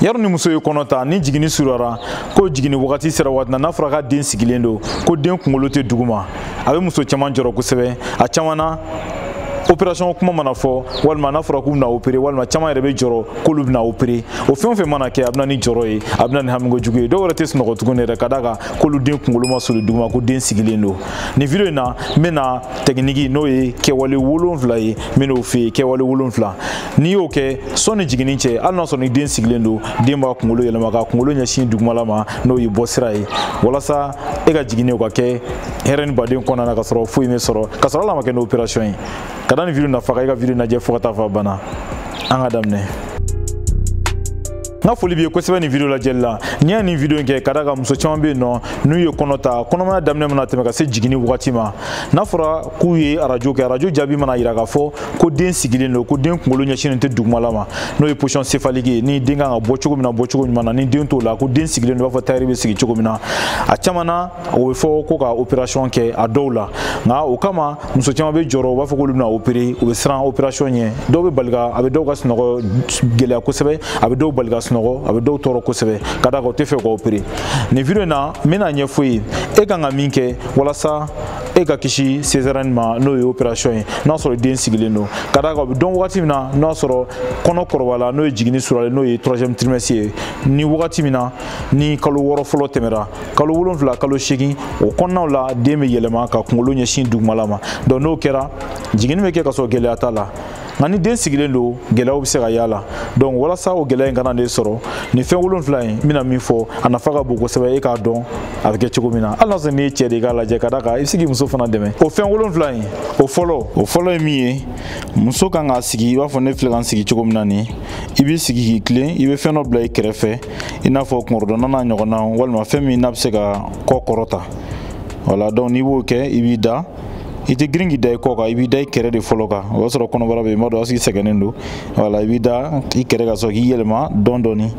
yaro ni muso ye kɔnɔ ta ni jiginni surunyara ko jiginni wagati sera waati na n'a fɔra k'a den sigilen don ko den kunkolo tɛ duguma a bɛ muso caman jɔrɔ kosɛbɛ a caman na opération kuma mana fɔ walima n'a fɔra k'u bɛna opérer walima caman yɛrɛ bɛ jɔrɔ k'olu bɛna opérer o fɛn o fɛn mana kɛ a bɛ na ni jɔrɔ ye a bɛ na ni hamiko jugu ye dɔw yɛrɛ tɛ sunɔgɔ tuguni yɛrɛ ka d'a kan k'olu den kunkolo ma surun duguma ko den sigilen don nin video in na n bɛna tɛkiniki n'o ye kɛwale wolonfila ye n bɛn'o f'i ye kɛwale wolonfila n'i y'o kɛ sɔni jiginni cɛ hali n'a sɔrɔ ni den sigilen don den b'a kunkolo yɛlɛma k'a kunkolo ɲɛsin dugumala ma n'o ye bɔsira ye walasa e ka jiginni o ka kɛ hɛrɛ ni baden kɔnɔna na ka sɔrɔ foyi m'i sɔrɔ ka sɔrɔ a ma kɛ ni opération ye ka da nin video nafa kan i ka video lajɛ fo ka taa fo a banna an ka daminɛ n ka foli b'i ye kosɛbɛ nin video lajɛli la n'i y'a nin video in kɛ ka d'a kan muso caman bɛ yen nɔ n'u ye kɔnɔ ta kɔnɔmaya daminɛ mana tɛmɛ ka se jiginni wagati ma n'a fɔra k'u ye arajo kɛ arajo jaabi mana jira k'a fɔ ko den sigilen don ko den kunkolo ɲɛsinnen tɛ dugumala ma n'o ye position céphalique ye ni den kan ka bɔ cogo min na bɔ cogo ɲuman na ni den t'o la ko den sigilen don i b'a fɔ tailleur bɛ sigi cogo min na a caman na o bɛ fɔ ko ka opération kɛ a dɔw la nka o kama muso caman bɛ jɔrɔ u b'a fɔ k'olu bɛna opérer u bɛ siran opération ɲɛ dɔw bɛ bali ka a bɛ dɔw ka sunɔgɔ gɛlɛya kosɛbɛ a bɛ dɔw bali ka sunɔgɔ a bɛ dɔw tɔɔrɔ kosɛbɛ ka d'a kan u t'a fɛ ka opérer nin video in na n bɛna ɲɛf'i ye e kan ka min kɛ walasa e ka kisi césarienne ma n'o ye opération ye n'a sɔrɔ den sigilen don ka d'a kan o bɛ dɔn wagati min na n'a sɔrɔ kɔnɔ kɔrɔbayala n'o ye jiginni suralen n'o ye troisième trimestre ye ni wagati min na ni kalo wɔɔrɔ fɔlɔ tɛmɛra kalo wolonfila kalo seegin o kɔnɔnaw la den bɛ yɛlɛma k'a kunkolo ɲɛsin dugumala ma donc n'o kɛra jiginni bɛ kɛ ka sɔrɔ gɛlɛya t'a la nka ni den sigilen don gɛlɛyaw bɛ se ka y'a la donc walasa o gɛlɛya in kana n'e sɔrɔ nin fɛn wolonfila in n bɛna min fɔ a nafa ka bon kosɛbɛ e k'a dɔn a bɛ kɛ cogo min na hali n'a sɔrɔ n'i ye cɛ de ye k'a lajɛ ka d'a kan i bɛ se k'i muso fana dɛmɛ o fɛn wolonfila in o fɔlɔ o fɔlɔ ye min ye muso kan k'a sigi i b'a fɔ ne filɛ ka n sigi cogo min na nin i b'i sigi k'i tilen i bɛ fɛn dɔ bila i kɛrɛfɛ i n'a fɔ kunkɔrɔdonnan n'a ɲɔgɔnna walima fɛn min n'a bɛ se ka kɔ kɔrɔta voilà donc n'i b'o kɛ i b'i da i tɛ girin k'i da i kɔ kan i b'i da i kɛrɛ de fɔlɔ kan o y'a sɔrɔ kɔnɔbara bɛ yen i b'a dɔn a tigi sɛgɛnnen don voilà i b'i da i kɛrɛ ka sɔrɔ k'i yɛlɛma dɔɔni dɔɔni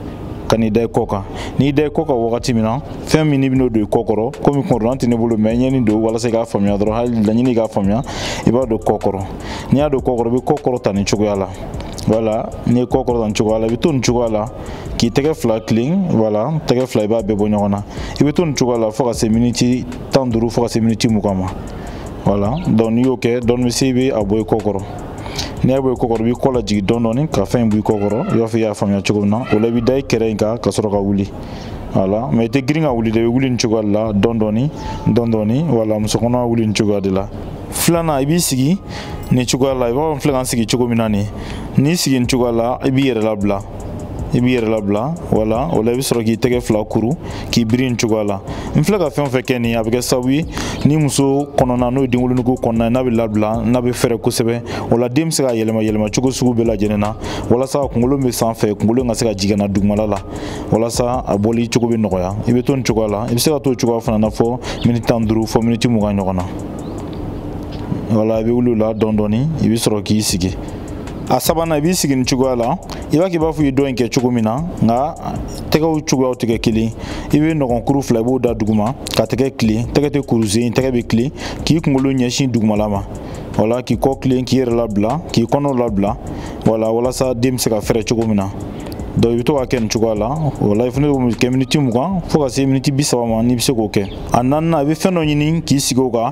ka n'i da i kɔ kan n'i da i kɔ kan wagati min na fɛn min n'i bɛn'o don i kɔ kɔrɔ komi kɔrɔlan tɛ ne bolo mais n ye nin don walasa i k'a faamuya dɔrɔn hali laɲini k'a faamuya i b'a don kɔ kɔrɔ n'i y'a don kɔ kɔrɔ i bɛ kɔ kɔrɔta nin cogoya la voilà n'i ye kɔ kɔrɔta nin cogoya la i bɛ to nin cogoya la k'i tɛgɛ fila tilen voilà tɛgɛ fila i b'a bɛɛ bɔ ɲɔgɔn na i bɛ to nin cogoya la fo ka se miniti tan duuru fo ka se miniti mugan ma voilà donc n'i y'o kɛ dɔɔni sa i b'a bɔ i kɔ kɔrɔ n'i y'a bɔ i kɔ kɔrɔ i b'i kɔ lajigin dɔɔni dɔɔni ka fɛn in bɔ i kɔ kɔrɔ i b'a fɔ i y'a faamuya cogo min na o la i bɛ da i kɛrɛ in kan ka sɔrɔ ka wuli voilà mais i tɛ girin ka wuli dɛ i bɛ wuli nin cogoya de la dɔɔni dɔɔni dɔɔni dɔɔni voilà muso kɔnɔma wuli nin cogoya de la filanan i b'i sigi nin cogoya la i b'a fɔ n filɛ ka n sigi cogo min na nin n'i sigi nin cogoya la i b'i yɛrɛ labila i b'i yɛrɛ labila wala o la i bɛ sɔrɔ k'i tɛgɛ fila kuru k'i biri nin cogoya la n filɛ ka fɛn o fɛn kɛ nin a bɛ kɛ sababu ye ni muso kɔnɔna n'o ye denwolonugu kɔnɔna n'a bɛ labila n'a bɛ fɛrɛ kosɛbɛ o la den bɛ se ka yɛlɛma yɛlɛma cogo sugu bɛɛ lajɛlen na walasa kunkolo bɛ sanfɛ kunkolo in ka se ka jigin ka na dugumala la walasa a bɔli cogo bɛ nɔgɔya i bɛ to nin cogoya la i bɛ se ka to o cogoya fana na fɔ miniti tan ni duuru fɔ miniti mugan ɲɔgɔn na wala i bɛ wuli o la dɔɔnin dɔɔnin i bɛ sɔrɔ k'i sigi a sabanan i b'i sigi nin cogoya la i b'a kɛ i b'a fɔ i ye dɔ in kɛ cogo min na nka tɛgɛw cogoyaw tɛ kɛ kelen i bɛ nɔgɔnkuru fila i b'o da duguma ka tɛgɛ tilen tɛgɛ tɛ kuru sisan tɛgɛ bɛ tilen k'i kunkolo ɲɛsin dugumala ma wala k'i kɔ tilen k'i yɛrɛ labila k'i kɔnɔ labila wala walasa den bɛ se ka fɛrɛ cogo min na donc i bɛ to ka kɛ nin cogoya la o la i fana bɛ kɛ miniti mugan fo ka se miniti bi saba ma n'i bɛ se k'o kɛ a naaninan i bɛ fɛn dɔ ɲini k'i sigi o kan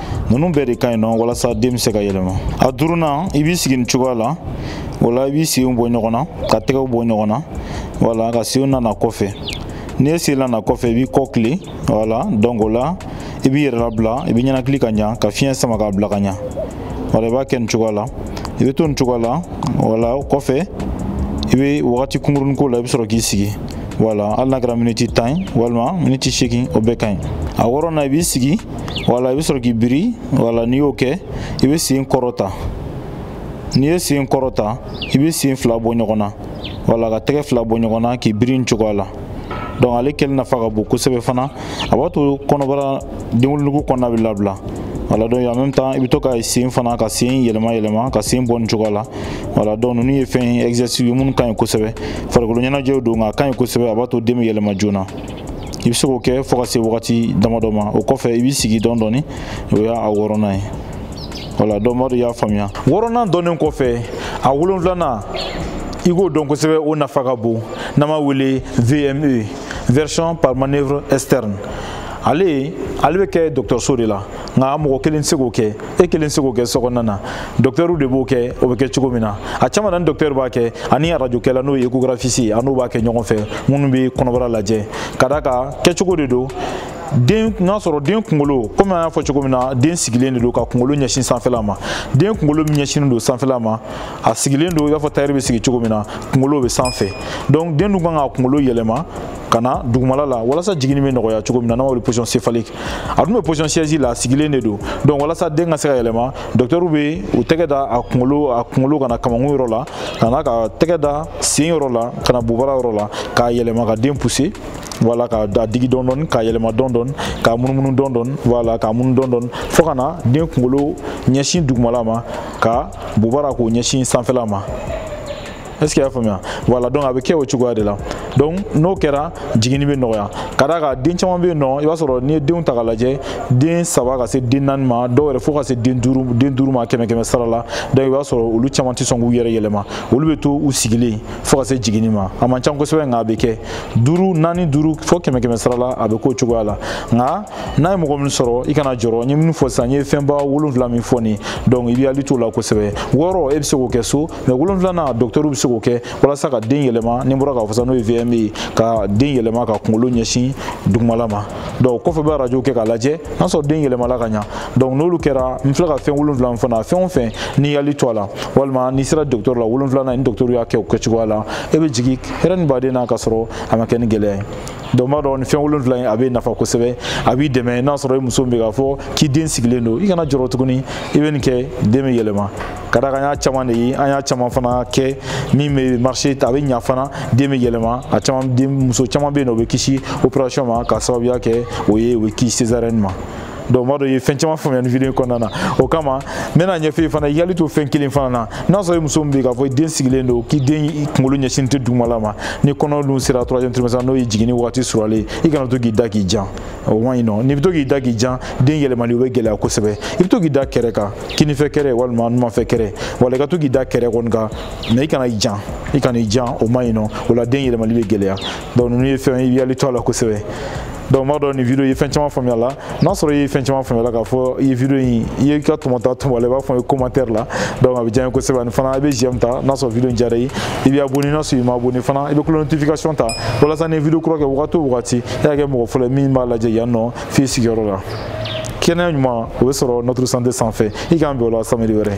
ninnu bɛɛ de ka ɲi nɔ walasa den bɛ se ka yɛlɛma a duurunan i b'i sigi nin cogoya la o la i b'i senw bɔ ɲɔgɔn na ka tɛgɛw bɔ ɲɔgɔn na wala ka senw nana kɔfɛ n'i ye sen nana kɔfɛ i b'i kɔ tilen wala donc o la i b'i yɛrɛ labila i b'i ninakili ka ɲa ka fiɲɛ sama k'a bila ka ɲa wala i b'a kɛ nin cogoya la i bɛ to nin cogoya la wala o kɔfɛ i bɛ wagati kunkurunin k'o la i bɛ sɔrɔ k'i sigi wala hali n'a kɛra miniti tan ye walima miniti seegin o bɛɛ ka ɲi a wɔɔrɔnan i b'i sigi wala i bɛ sɔrɔ k'i biri wala n'i y'o kɛ i bɛ sen kɔrɔta n'i ye sen kɔrɔta i bɛ sen fila bɔ ɲɔgɔn na wala ka tɛgɛ fila bɔ ɲɔgɔn na k'i biri nin cogoya la donc ale kɛli nafa ka bon kosɛbɛ fana a b'a to kɔnɔbara denwolonugu kɔnɔna bɛ labila wala donc en même temps i bɛ to ka sen fana ka sen yɛlɛma yɛlɛma ka sen bɔ nin cogoya la wala donc ninnu ye fɛn ye exercice ye minnu ka ɲi kosɛbɛ farikolo ɲɛnajɛw don nka a ka ɲi kosɛbɛ a b'a to den bɛ yɛlɛma joona i bɛ se k'o kɛ fo ka se wagati damadɔ ma o kɔfɛ i b'i sigi dɔɔni dɔɔni o y'a wɔɔrɔnan ye wala donc n b'a dɔn aw y'a faamuya wɔɔrɔnan dɔnnen kɔfɛ a wolonfilanan i k'o dɔn kosɛbɛ o nafa ka bon n'an b'a wele vme version par manœuvre externe ale ale bɛ kɛ dɔgɔtɔrɔso de la nka mɔgɔ kelen tɛ se k'o kɛ e kelen tɛ se k'o kɛ so kɔnɔna na dɔktɛriw de b'o kɛ o bɛ kɛ cogo min na a caman na ni dɔktɛri b'a kɛ ani arajokɛla n'o ye échographiste a n'o b'a kɛ ɲɔgɔn fɛ minnu bɛ kɔnɔbara lajɛ ka d'a kan kɛcogo de don den n'a sɔrɔ den kunkolo komi an y'a fɔ cogo min na den sigilen de don ka kunkolo ɲɛsin sanfɛla ma den kunkolo min ɲɛsinnen don sanfɛla ma a sigilen don i b'a fɔ tayɛri bɛ sigi cogo min na kunkolo bɛ sanfɛ donc den dun kan ka kunkolo yɛlɛma ka na dugumala la walasa jiginni bɛ nɔgɔya cogo min na n'an b'a wele position céphalique a dun bɛ position siège la a sigilen de don donc walasa den ka se ka yɛlɛma dɔkitɛriw bɛ u tɛgɛ da a kunkolo a kunkolo ka na kamankun yɔrɔ la ka na ka tɛgɛ da sen yɔrɔ la ka na bobara yɔrɔ la k'a yɛlɛma ka den pousser wala ka den digi dɔɔni dɔɔni k'a yɛlɛma dɔɔni dɔɔni k'a munumunu dɔɔni dɔɔni wala k'a munu dɔɔni dɔɔni fo ka na den kunkolo ɲɛsin dugumala ma ka bobara k'o ɲɛsin sanfɛla ma est ce que y'a faamuya voilà donc a bɛ kɛ o cogoya de la donc n'o kɛra jiginni bɛ nɔgɔya ka d'a kan den caman bɛ yen nɔ i b'a sɔrɔ n'i ye denw ta k'a lajɛ den saba ka se den naani ma dɔw yɛrɛ fo ka se den duuru den duuru ma kɛmɛ kɛmɛ sara la donc i b'a sɔrɔ olu caman tɛ sɔn k'u yɛrɛ yɛlɛma olu bɛ to u sigilen fo ka se jiginni ma a man ca kosɛbɛ nka a bɛ kɛ duuru naani duuru fo kɛmɛ kɛmɛ sara la a bɛ k'o cogoya la nka n'a ye mɔgɔ min sɔrɔ i kana jɔrɔ n ye minnu fɔ sisan n ye fɛnba wolonwula min fɔ nin donc i b'i hakili t'o la kosɛbɛ wɔɔrɔ e bɛ se k'o kɛ so mais wolonfilana dɔktɛriw bɛ se k'o kɛ walasa ka den yɛlɛma n bɔra k'a fɔ sa n'o ye vme ye ka den yɛlɛma ka kunkolo ɲɛsin dugumala ma donc kɔfɛ bɛ arajo kɛ k'a lajɛ n'a sɔrɔ den yɛlɛmala ka ɲa donc n'olu kɛra n filɛ ka fɛn wolonfila min fana fɛn o fɛn n'i y'i hakili to a la walima n'i sera dɔktɛri la wolonfilana ni dɔktɛriw y'a kɛ o kɛcogoya la e bɛ jigin hɛrɛ ni baden na ka sɔrɔ a ma kɛ ni gɛlɛya ye donc n b'a dɔn ni fɛn wolonfila in a bɛ nafa kosɛbɛ a b'i dɛmɛ n'a sɔrɔ i muso bɛ k'a fɔ k'i den sigilen don i kana jɔrɔ tuguni i bɛ nin kɛ den bɛ yɛlɛma ka da kan an y'a caman de ye an y'a caman fana kɛ min bɛ marché a bɛ ɲa fana den bɛ yɛlɛma a caman den muso caman bɛ yen nɔ o bɛ kisi opération ma ka sababuya kɛ o ye o bɛ kisi césarienne ma donc m'a dɔn i ye fɛn caman faamuya nin video in kɔnɔna na o kama n bɛn'a ɲɛfɔ i ye fana i hakili to fɛn kelen fana na n'a sɔrɔ i muso min bɛ k'a fɔ i den sigilen don k'i den kunkolo ɲɛsin tɛ dugumala ma ni kɔnɔ dun sera troisième trimestre n'o ye jiginni waati surunyalen i kana to k'i da k'i jan o man ɲi nɔ n'i bɛ to k'i da k'i jan den yɛlɛmali o bɛ gɛlɛya kosɛbɛ i bɛ to k'i da kɛrɛ kan kininfɛ kɛrɛ walima numanfɛ kɛrɛ voilà i ka to k'i da kɛrɛ kɔni kan mais i kana i jan i kana i jan o man ɲi nɔ o la den yɛlɛmali bɛ gɛlɛya donc ninnu ye fɛn i hakili to a la kosɛbɛ donc m'a dɔn nin video ye fɛn caman faamuya la n'a sɔrɔ i ye fɛn caman faamuya la k'a fɔ i ye video in i ye ka tɔmɔta tɔmɔ la i b'a fɔ i commentaire la donc a bɛ diya n ye kosɛbɛ ani fana i bɛ j'aime ta n'a sɔrɔ video in diyara i ye i bɛ abonné n'a sɔrɔ i ma abonné fana i bɛ cloche notification ta walasa ni video kura kɛ wagati o wagati e ka kɛ mɔgɔ fɔlɔ ye min b'a lajɛ yan nɔ f'i sigiyɔrɔ la kɛnɛya ɲuman o bɛ sɔrɔ notre santé sanfɛ i k'an bɛn o la samedi wɛrɛ